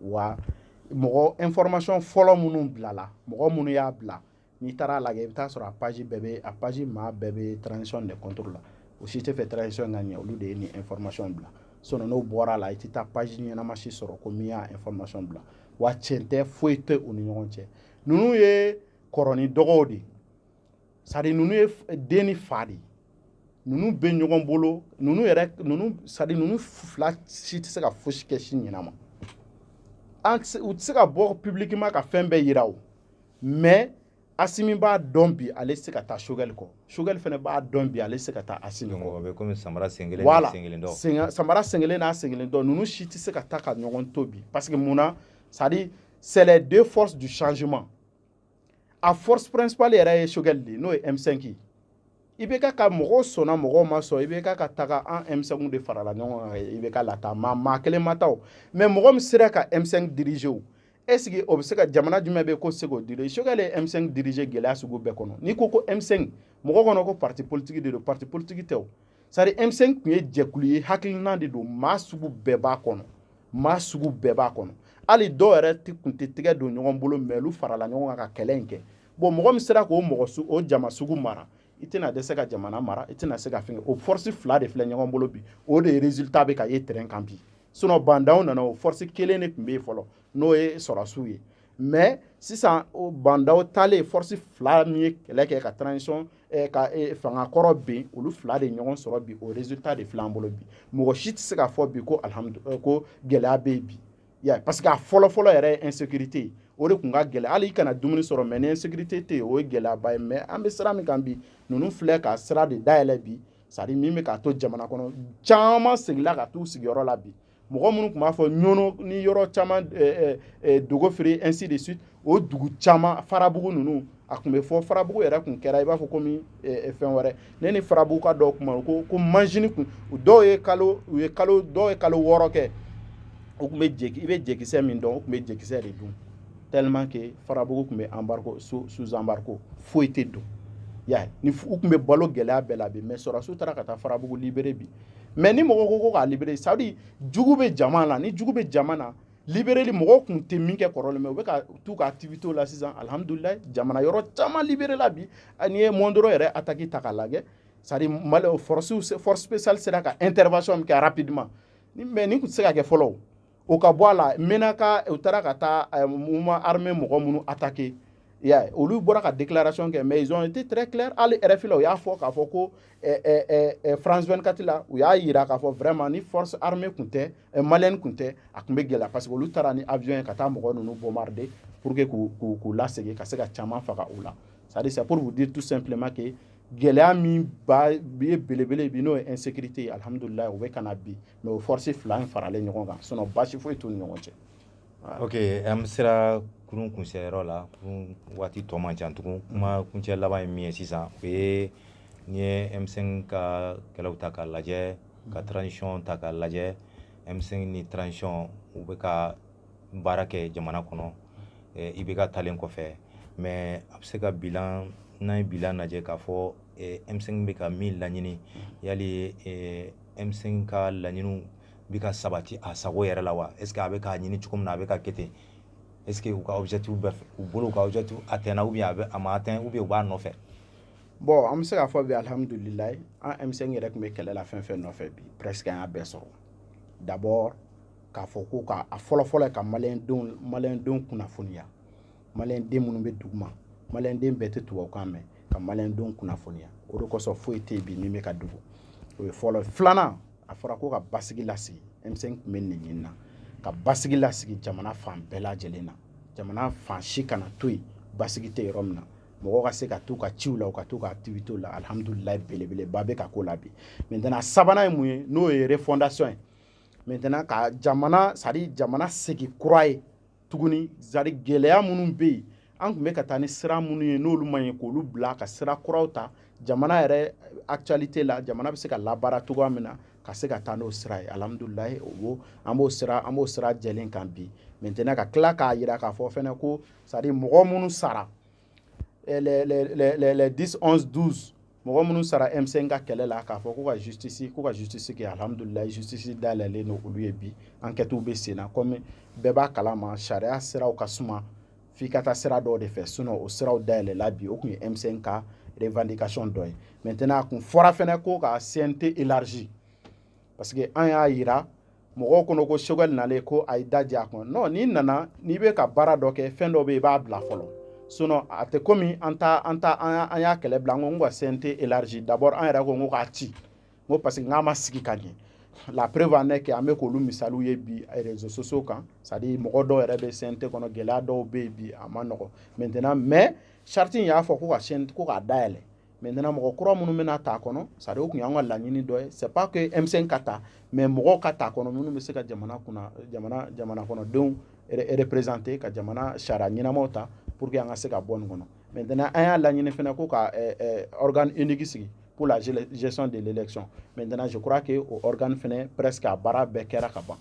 wa mɔgɔ information fɔlɔ minnu bilala mɔgɔ minnu y'a bila n'i taara a lajɛ i bɛ t'a sɔrɔ a page bɛɛ bɛ a page maa bɛɛ bɛ transition de contre la u si t'a fɛ transition ka ɲɛ olu de ye nin information bila sinon n'o bɔra la i tɛ taa page ɲɛnama si sɔrɔ ko min y'a information bila wa tiɲɛ tɛ foyi tɛ u ni ɲɔgɔn cɛ ninnu ye kɔrɔ ni dɔgɔw de ye sadi ninnu ye den ni fa de ye ninnu bɛ ɲɔgɔn bolo ninnu yɛrɛ ninnu sadi ninnu fila si tɛ se ka fosi kɛ si ɲinama an u tɛ se ka bɔ pibilikima ka fɛn bɛɛ yira o mɛ asimi b'a dɔn bi ale tɛ se ka taa sogɛli kɔ sogɛli fana b'a dɔn bi ale tɛ se ka taa asimi kɔ a bɛ komi samara sen kelen n'a sen kelen dɔ samara sen kelen n'a sen kelen dɔ ninnu si tɛ se ka taa ka ɲɔgɔn to bi parce que mun na sadi c'est les deux forces du changement a force principale yɛrɛ ye sogɛli de n'o ye m5 ye ibk ka mɔgɔw sɔnna mɔgɔw ma sɔn ibk ka taga an m5 de farala ɲɔgɔn kan ibk lataa maa maa kelen ma taa o mɛ mɔgɔ min sera ka m5 diriger o est-ce que o bɛ se ka jamana jumɛn bɛ ko se k'o diriger sogɛli ye m5 diriger gɛlɛya sugu bɛɛ kɔnɔ n'i ko ko m5 mɔgɔ kɔnɔ ko parti politique de don parti politique tɛ o sari m5 tun ye jɛkulu ye hakilinan de don maa sugu bɛɛ b'a kɔnɔ maa sugu bɛɛ b'a kɔnɔ hali dɔw yɛrɛ tɛ kun tɛ tɛgɛ don ɲɔgɔn bolo mɛ olu farala ɲɔgɔn kan ka kɛlɛ in kɛ bɔn mɔgɔ min sera k'o mɔgɔ su o jama sugu mara i tɛna dɛsɛ ka jamana mara i tɛna se ka fɛn o force fila de filɛ ɲɔgɔn bolo bi o de resultat bɛ ka ye terrain kan bi sinon bah n'daw nana o force kelen de tun bɛ yen fɔlɔ n'o ye sɔrɔdasiw ye mɛ sisan bah n'daw taalen force fila min ye kɛlɛ kɛ ka taasɔn eh, ka eh, fanga kɔrɔ bin olu fila de ɲɔgɔn sɔrɔ bi o resultat de fil'an bolo bi mɔgɔ si tɛ se k'a fɔ bi ko alihamudu eh, ko gɛlɛya bɛ bi ya parce que a fɔlɔ fɔlɔ yɛrɛ ye insécurité o de kun ka gɛlɛn hali i kana dumuni sɔrɔ mɛ ni sécurité tɛ yen o ye gɛlɛyaba ye mɛ an bɛ sira min kan bi ninnu filɛ ka sira de dayɛlɛ bi sari min bɛ k'a to jamana kɔnɔ caman seginla ka t'u sigiyɔrɔ la bi mɔgɔ minnu tun b'a fɔ ɲɔnɔ ni yɔrɔ caman dogofiri ainsi de suite o dugu caman farabugu ninnu a tun bɛ fɔ farabugu yɛrɛ tun kɛra i b'a fɔ komi fɛn wɛrɛ ne ni farabuguka dɔw kuma ko ko imaginez kun dɔw ye kalo u ye kalo dɔw ye kalo wɔɔrɔ kɛ o tun bɛ i bɛ jekisɛ min dɔn o tun bɛ jekisɛ de dun tellement que farabugu tun bɛ embargo sous sous embargo foyi tɛ don y'a ye ni u tun bɛ balo gɛlɛya bɛɛ la bi mais sɔrɔdasiw taara ka taa farabugu libérer bi mais ni mɔgɔ ko ko k'a libere c'est à dire jugu bɛ jama la ni jugu bɛ jama na libereli mɔgɔ tun tɛ min kɛ kɔrɔlen mais u bɛ ka t'u ka activitéw la sisan alhamdulila jamana yɔrɔ caman liberela bi n'i ye mondoro yɛrɛ attaque ta k'a lajɛ c'est à dire mali force force spéciale sera ka intervention min kɛ rapidement mais nin tun tɛ se ka kɛ fɔlɔ o ka bɔ a la maintenant u taara ka taa eh, armée mɔgɔ minnu atake ya olu bɔra ka declaration kɛ mais ils ont été très clairs hali RFI la u y'a fɔ k'a fɔ ko eh, eh, eh, France 24 la u y'a yira k'a fɔ vraiment ni force armée tun tɛ eh, malienne tun tɛ a tun bɛ gɛlɛya parce que olu taara ni avion ye ka taa mɔgɔ ninnu bombarder pour que k'u lasegin ka se ka caman faga u la c'est à dire c'est pour vous dire tout simplement que gɛlɛya min ba ye belebele bi n'o ye insécurité ye alihamudulilayi o bɛ ka na bi mais o force fila in faralen ɲɔgɔn kan sinon basi foyi t'u ni ɲɔgɔn cɛ ok an sera kurun kuncɛyɔrɔ la kurun waati tɔ man ca tugun kuma kuncɛ laban ye min ye sisan o ye n'i ye m5 ka kɛlɛw ta k'a lajɛ ka transition ta k'a lajɛ m5 ni transition u bɛ ka baara kɛ jamana kɔnɔ eh, i bɛ ka talen kɔfɛ mais a bɛ se ka bilan n'an ye bilan lajɛ k'a fɔ eh, m5 bɛ ka min laɲini yali eh, M5 ka laɲiniw bɛ ka sabati a sago yɛrɛ la wa est ce que a bɛ k'a ɲini cogo min na a bɛ ka kɛ ten est ce que u ka objectif bɛ u bolo u ka objectif atteint ou bien a bɛ a ma atteint ou bien u b'a nɔfɛ bon an bɛ se k'a fɔ bi alhamdulilayi an M5 yɛrɛ tun bɛ kɛlɛ la fɛn fɛn nɔfɛ bi presque an y'a bɛɛ sɔrɔ d'abord k'a fɔ ko ka a fɔlɔfɔlɔ ka maliyɛndenw maliyɛndenw kunnafoniya maliyɛnden minnu bɛ duguma maliyɛnden bɛɛ tɛ tubabukan mɛn ka maliyɛnden kunnafoniya o de kosɔn foyi tɛ yen bi min bɛ ka dogo o ye fɔlɔ filanan a fɔra ko ka basigi lasigi M5 tun bɛ nin ɲini na ka basigi lasigi jamana fan bɛɛ lajɛlen na jamana fan si kana to yen basigi tɛ yɔrɔ min na mɔgɔ ka se ka t'u ka ciw la u ka t'u ka activitew la alihamudulilayi belebeleba bɛ ka k'o la bi maintenant sabanan ye mun ye n'o ye refondation ye maintenant ka jamana c'est à dire jamana sigi kura ye tuguni c'est à dire gɛlɛya minnu bɛ yen an tun bɛ ka taa ni sira minnu ye n'olu man ɲi k'olu bila ka sira kuraw ta jamana yɛrɛ actualité la jamana bɛ se ka labaara cogoya min na ka se ka taa n'o sira ye alhamdulilayi o b'o an b'o sira an b'o sira jɛlen kan bi maintenant ka tila k'a jira k'a fɔ fɛnɛ ko c'est à dire mɔgɔ minnu sara eh, les, les, les, les, les 10, 11, 12 mɔgɔ minnu sara M5 ka kɛlɛ la k'a fɔ ko ka justice ko ka justice kɛ alhamdulilayi justice dayɛlɛlen don olu ye bi enquêtew bɛ sen na komi bɛɛ b'a kalama sariya siraw ka suma f'i ka taa sira dɔw de fɛ sinon o siraw dayɛlɛla bi o kun ye M5 ka revendication dɔ ye maintenant a kun fɔra fɛnɛ ko ka CNT élargi parce que an y'a yira mɔgɔw kɔnɔ ko Choguel nalen kɔ a ye da jɛ a kɔnɔ non n'i nana n'i bɛ ka baara dɔ kɛ fɛn dɔ bɛ i b'a bila fɔlɔ sinɔn a tɛ komi an ta an ta an y'a kɛlɛ bila n ko n ka CNT élargi d'abord an yɛrɛ kun ko k'a ci n ko parce que n k'a ma sigi ka ɲɛ la preuve en est que an bɛ k'olu misaliw ye bi réseaux sociaux kan c'est à dire mɔgɔ dɔw yɛrɛ bɛ CNT kɔnɔ gɛlɛya dɔw bɛ yen bi a ma nɔgɔ maintenant mais charte in y'a fɔ ko ka CNT ko k'a dayɛlɛ maintenant mɔgɔ kura minnu bɛna taa kɔnɔ sa o tun y'an ka laɲini dɔ ye c'est pas que M5 ka taa mais mɔgɔw ka taa kɔnɔ minnu bɛ se ka jamana jamana kɔnɔdenw représenter ka jamana sariya ɲɛnamaw ta pour que an ka se ka bɔ nin kɔnɔ maintenant an y'a laɲini fana ko ka organe unique sigi pour la gestion de l'élection maintenant je crois que o organe fana presque a baara bɛɛ kɛra ka ban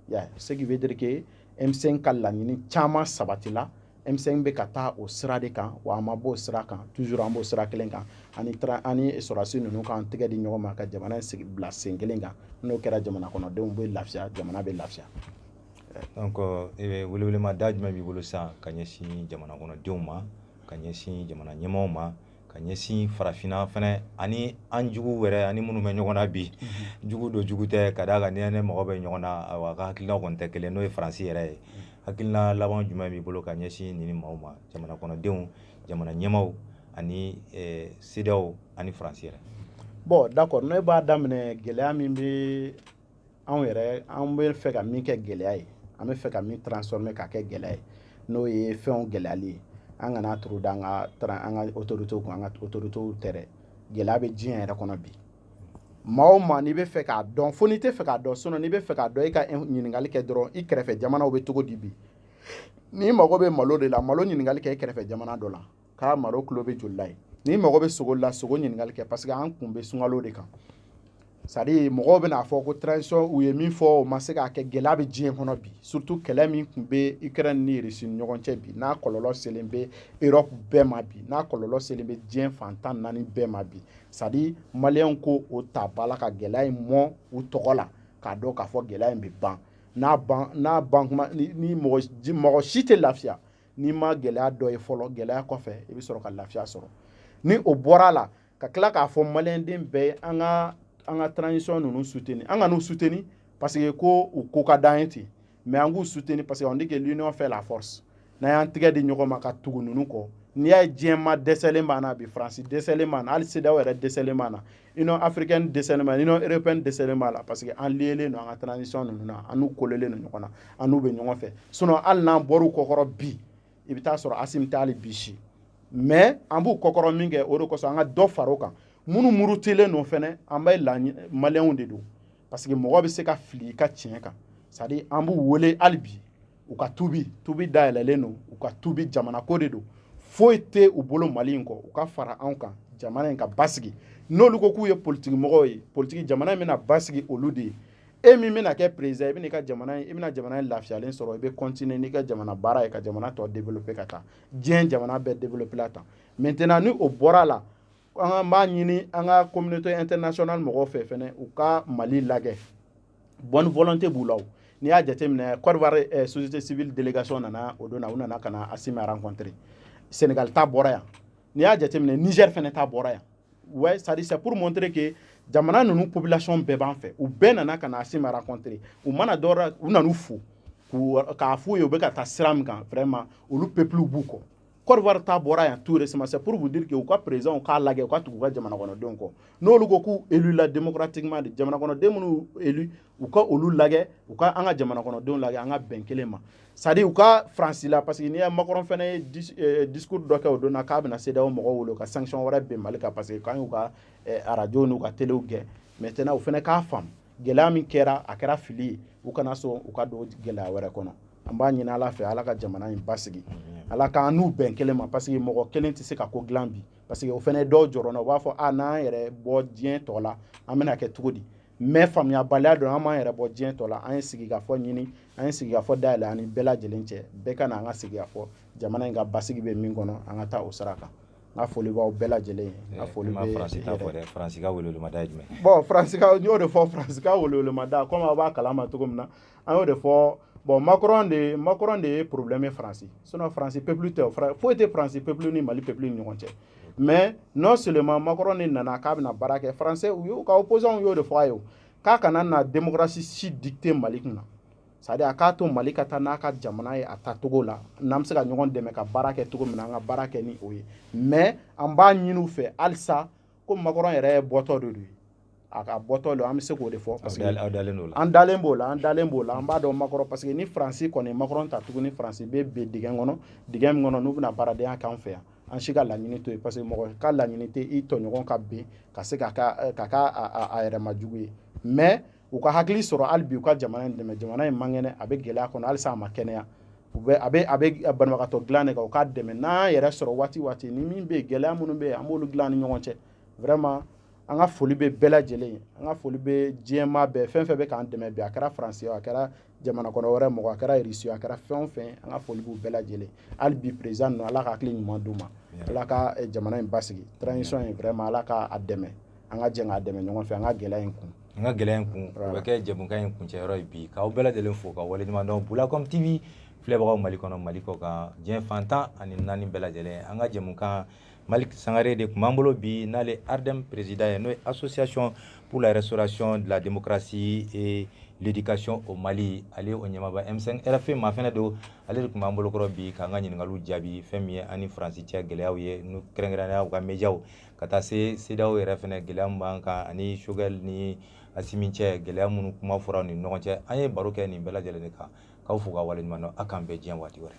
ya ce qui veut dire que M5 ka laɲini caman sabatila M5 bɛ ka taa o sira de kan wa a ma b'o sira kan toujours an b'o sira kelen kan ani tra ani sɔrɔdasi ninnu k'an tɛgɛ di ɲɔgɔn ma ka jamana in sigi bila sen kelen kan n'o kɛra jamana kɔnɔdenw bɛ lafiya jamana bɛ lafiya donc e bɛ welewelemada jumɛn b'i bolo sisan ka ɲɛsin jamana kɔnɔdenw ma ka ɲɛsin jamana ɲɛmaaw ma ka ɲɛsin farafinna fana ani an jugu yɛrɛ an ni minnu bɛ ɲɔgɔn na bi mhm. jugu don jugu tɛ ka d'a kan n'i ni mɔgɔ bɛ ɲɔgɔn na a ka hakilina kɔni tɛ kelen n'o ye faransi yɛrɛ ye mhm. hakilina laban jumɛn b'i bolo ka ɲɛsin nin maaw ma jamana kɔnɔdenw jamana ɲɛmaw ani eh, CEDEAO ani faransi yɛrɛ bon d'accord ne b'a daminɛ gɛlɛya min bɛ anw yɛrɛ an bɛ fɛ ka min kɛ gɛlɛya ye an bɛ fɛ ka min transformer ka kɛ gɛlɛya ye n'o ye fɛnw gɛlɛyali ye an kana turu da an ka tra an ka autorités kun an ka autorités tɛ dɛ gɛlɛya bɛ diɲɛ yɛrɛ kɔnɔ bi maa o maa n'i bɛ fɛ k'a dɔn fo n'i tɛ fɛ k'a dɔn sinɔn n'i bɛ fɛ k'a dɔn i ka ɲininkali kɛ dɔrɔn i kɛrɛfɛ jamanaw bɛ cogo di bi n'i mago bɛ malo de la malo ɲininkali kɛ i kɛrɛfɛ jamana dɔ la ka malo kilo bɛ joli la yen n'i mago bɛ sogo la sogo ɲininkali kɛ parce que an kun bɛ sunkalo de kan c'est à dire mɔgɔw bɛna'a fɔ ko transition u ye min fɔ o ma se k'a kɛ gɛlɛya bɛ diɲɛ kɔnɔ bi surtout kɛlɛ min kun bɛ Ukraine ni Russie ni ɲɔgɔn cɛ bi n'a kɔlɔlɔ selen bɛ Europe bɛɛ ma bi n'a kɔlɔlɔ selen bɛ diɲɛ fan tan naani bɛɛ ma bi c'est à dire maliyɛnw ko o ta ba la ka gɛlɛya in mɔ u tɔgɔ la k'a dɔn k'a fɔ gɛlɛya in bɛ ban n'a ban n'a ban kuma ni mɔgɔ mɔgɔ si tɛ lafiya n'i ma gɛlɛya dɔ ye fɔlɔ gɛlɛya kɔfɛ i bɛ sɔrɔ ka lafiya sɔrɔ ni o bɔra la ka tila k'a fɔ maliyɛnden bɛɛ ye an ka an ka transition ninnu suteni an kan'u suteni parce que ko u ko ka d'an ye ten mais an k'u suteni parce que on dit que l'union fait la force n'an y'an tɛgɛ di ɲɔgɔn ma ka tugu ninnu kɔ n'i y'a ye diɲɛ maa dɛsɛlen b'an na bi faransi dɛsɛlen b'an na hali CEDEAO yɛrɛ dɛsɛlen b'an na union africaine dɛsɛlen b'an na union européenne dɛsɛlen b'a la parce que an liyelen don an ka transition ninnu na an n'u kolelen don ɲɔgɔn na an n'u bɛ ɲɔgɔn fɛ sinon hali n'an bɔr'u kɔkɔrɔ bi i bɛ taa sɔrɔ asimi tɛ hali bi si mais an b'u kɔkɔrɔ minkɛ o de kosɔn an ka dɔ fara o kan minnu murutilen don fɛnɛ an bɛɛ lajɛlen maliyɛnw de don parce que mɔgɔ bɛ se ka fili i ka tiɲɛ kan c'est à dire an b'u wele hali bi u ka tuubi tuubi dayɛlɛlen don u ka tuubi jamana ko de don foyi tɛ u bolo mali in kɔ u ka fara anw kan jamana in ka basigi n'olu ko k'u ye politiki mɔgɔw ye politiki jamana in bɛna basigi olu de ye e min bɛna kɛ perezida i bɛna ka jamana i bɛna jamana in lafiyalen sɔrɔ i bɛ kɔntinin n'i ka jamana baara ye ka jamana tɔ developpe ka taa diɲɛ jamana bɛɛ developpe la tan maintenant ni o bɔra la an b'a ɲini an ka communauté internationale mɔgɔw fɛ fɛnɛ u ka mali lagɛ bonne volonté b'u la n'i y'a jateminɛ côte d'ivoire eh, société civile délégation nana o don na u nana ka na asimi rencontré sénégal ta bɔra yan n'i y'a jateminɛ niger fana ta bɔra yan ouais c'est à dire c'est pour montrer que jamana ninnu population bɛɛ b'an fɛ u bɛɛ nana ka na asimi rencontré u ma na dɔ la u nan'u fo k'a f'u ye u bɛ ka taa sira min kan vraiment olu peuple b'u kɔ Côte d'Ivoire ta bɔra yan tout récemment c'est pour vous dire que u ka présidentw k'a lajɛ u ka tugu u ka jamanakɔnɔdenw kɔ n'olu ko k'u élu la démocratiquement de jamanakɔnɔden minnu y'u élu u ka olu lajɛ u ka an ka jamanakɔnɔdenw lajɛ an ka bɛn kelen ma c'est à dire u ka France la parce que n'i ye Macron fana ye dis, euh, discours dɔ kɛ o don na k'a bɛna CEDEAO mɔgɔw wele u ka sanction wɛrɛ bɛn Mali kan parce que k'an y'u ka euh, arajo n'u ka telew gɛn maintenant u fana k'a faamu gɛlɛya min kɛra a kɛra fili ye u kana sɔn u ka don gɛlɛya wɛrɛ kɔnɔ an b'a ɲini ala fɛ ala ka jamana in basigi ala k'an n'u bɛn kelen ma parce que mɔgɔ kelen tɛ se ka ko dilan bi parce que o fana dɔw jɔrɔ na u b'a fɔ a n'an yɛrɛ bɔ diɲɛ tɔ la an bɛna kɛ cogo di mais faamuyabaliya don an m'an yɛrɛ bɔ diɲɛ tɔ la an ye sigikafɔ ɲini an ye sigikafɔ dayɛlɛ an ni bɛɛ lajɛlen cɛ bɛɛ ka na an ka sigi k'a fɔ jamana in ka basigi bɛ min kɔnɔ an ka taa o sira kan N ka foli b'aw bɛɛ lajɛlen ye. N foli bɛ e yɛrɛ. Faransi ta fɔ dɛ, Faransi ka welewelemada ye jumɛn ye? Bon Faransi ka, n y'o de fɔ Faransi ka welewelemada comme aw b'a kalama cogo min na, an y'o de fɔ bon Macron de Macron de ye problème ye Faransi sinon Faransi peuple tɛ foyi tɛ Faransi peuple ni Mali peuple ni ɲɔgɔn cɛ mais non seulement Macron de nana k'a bɛna baara kɛ Françaisw ye u ka opposants y'o de fɔ a ye k'a kana na démocratie si dicter Mali kunna Sa k'a to mali ka taa n'a ka jamana ye a ta cogo la n'an bɛ se ka ɲɔgɔn dɛmɛ ka baara kɛ cogo min na an ka baara kɛ ni o ye mais an b'a ɲini u fɛ halisa ko Macron yɛrɛ ye bɔtɔ de ye a ka bɔtɔ don an bɛ se k'o de fɔ parce an dalen b'o la an dalen b'o la an b'a dɔn Macron parce que ni faransi kɔni Macron ta tuguni ni faransi bɛ bɛ dingɛ kɔnɔ dingɛ min kɔnɔ n'u bɛna baaradenya k'an fɛ yan an si ka laɲini t'o ye parce que mɔgɔ ka laɲini tɛ i tɔɲɔgɔn ka bin ka se ka ka yɛrɛ ma jugu ye mais u ka hakili sɔrɔ hali bi u ka jamana in dɛmɛ jamana in man kɛnɛ a bɛ gɛlɛya kɔnɔ halisa a ma kɛnɛya u bɛ a bɛ a bɛ banabagatɔ dilan de kan u k'a dɛmɛ n'an yɛrɛ sɔrɔ waati waati ni min bɛ yen gɛlɛya minnu bɛ yen an b'olu dilan ni ɲɔgɔn cɛ vraiment an ka foli bɛ bɛɛ lajɛlen ye an ka foli bɛ diɲɛmaa bɛɛ fɛn o fɛn bɛ k'an dɛmɛ bi a kɛra faransi ye a kɛra jamana kɔnɔ wɛrɛ mɔgɔ a kɛra irisi ye a kɛra fɛn o fɛn an ka foli b'u bɛɛ lajɛlen hali bi perezidan ninnu ala ka hakili ɲuman d'u ma ala ka eh, jamana in basigi transition in vraiment ala ka a dɛmɛ an ka jɛ k'a dɛmɛ ɲɔgɔn fɛ an ka gɛlɛya in kun an ka gɛlɛya in kun o bɛ kɛ jɛmukan in kuncɛyɔrɔ ye bi k'aw bɛɛ lajɛlen fo k'aw waleɲuman dɔn bulacom tv filɛbagaw mali kɔnɔ mali kɔkan diɲɛ fan tan ani naani bɛɛ lajɛlen an ka jɛmukan Mali sangare de tun b'an bolo bi n'ale ARDEM perezidan ye n'o ye association pour la restauration de la démocratie et l'éducation au Mali ale o ɲɛmaaba M5 RFP maa fɛnɛ don ale de tun b'an bolokɔrɔ bi k'an ka ɲininkaliw jaabi fɛn min ye an ni Faransi cɛ gɛlɛyaw ye n'u kɛrɛnkɛrɛnnenya u ka mediaw ka taa se CEDEAO yɛrɛ fɛnɛ gɛlɛya min b'an kan ani Choguel ni Assimi cɛ gɛlɛya minnu kuma fɔra u ni ɲɔgɔn cɛ an ye baro kɛ nin bɛɛ lajɛlen de kan k'aw fo k'aw waleɲuman dɔn a k'an bɛɛ diɲɛ waati wɛrɛ